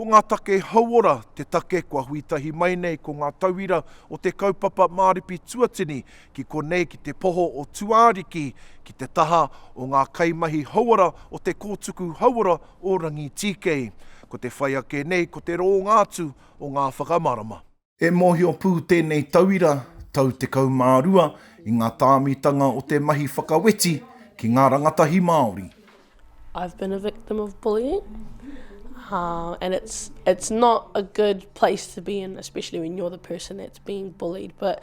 Ko ngā take hauora te take kua hui tahi mai nei ko ngā tauira o te kaupapa māripi tuatini ki konei ki te poho o Tuāriki ki te taha o ngā kaimahi hauora o te kōtuku hauora o Rangitīkei. Ko te whai ake nei ko te roonga atu o ngā whakamarama. E mōhio pū tēnei tauira, tau 12, i ngā tāmitanga o te mahi whakaweti ki ngā rangatahi Māori. I've been a victim of bullying and it's it's not a good place to be in especially when you're the person that's being bullied but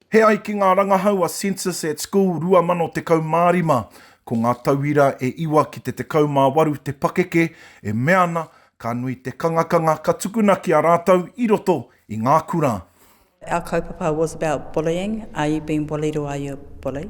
He ai ki ngā rangahau a Census at School 2015, ko ngā tauira e iwa ki te 18 te pakeke e mea ana ka nui te kangakanga ka tukuna ki a rātou i roto i ngā kura. Our kaupapa was about bullying, are you being bullied or are you a bully?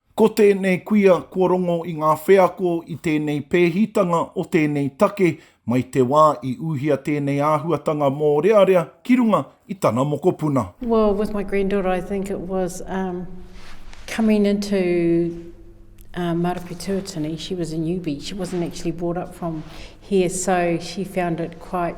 Ko tēnei kuia kua rongo i ngā wheako i tēnei pēhitanga o tēnei take mai te wā i uhia tēnei āhuatanga mōrearea ki runga i tana mokopuna. Well with my granddaughter I think it was um coming into um Marapetouatini, she was a newbie, she wasn't actually brought up from here so she found it quite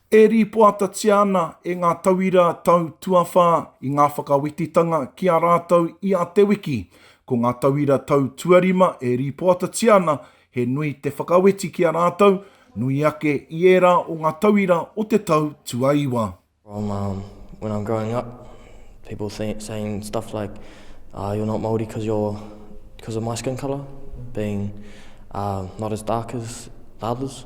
E rīpoatatia ana e ngā tauira tau tuawhā i ngā whakawetitanga ki a rātou i a Te Wiki. Ko ngā tauira tau tuarima e rīpoatatia ana he nui te whakaweti ki a rātou, nui ake i ērā o ngā tauira o te tau tuaiwa. From um when I'm growing up, people saying saying stuff like uh you're not Māori because you're because of my skin colour being uh not as dark as others.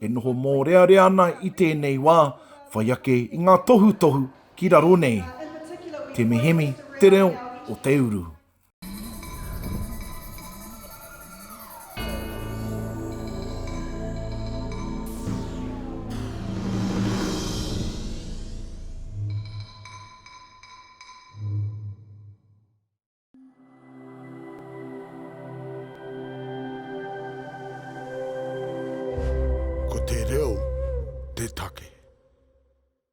e noho mōrearea ana i tēnei wā, whai ake i ngā tohutohu ki raro nei. Temehemi te reo o te uru. Ko te reo te take.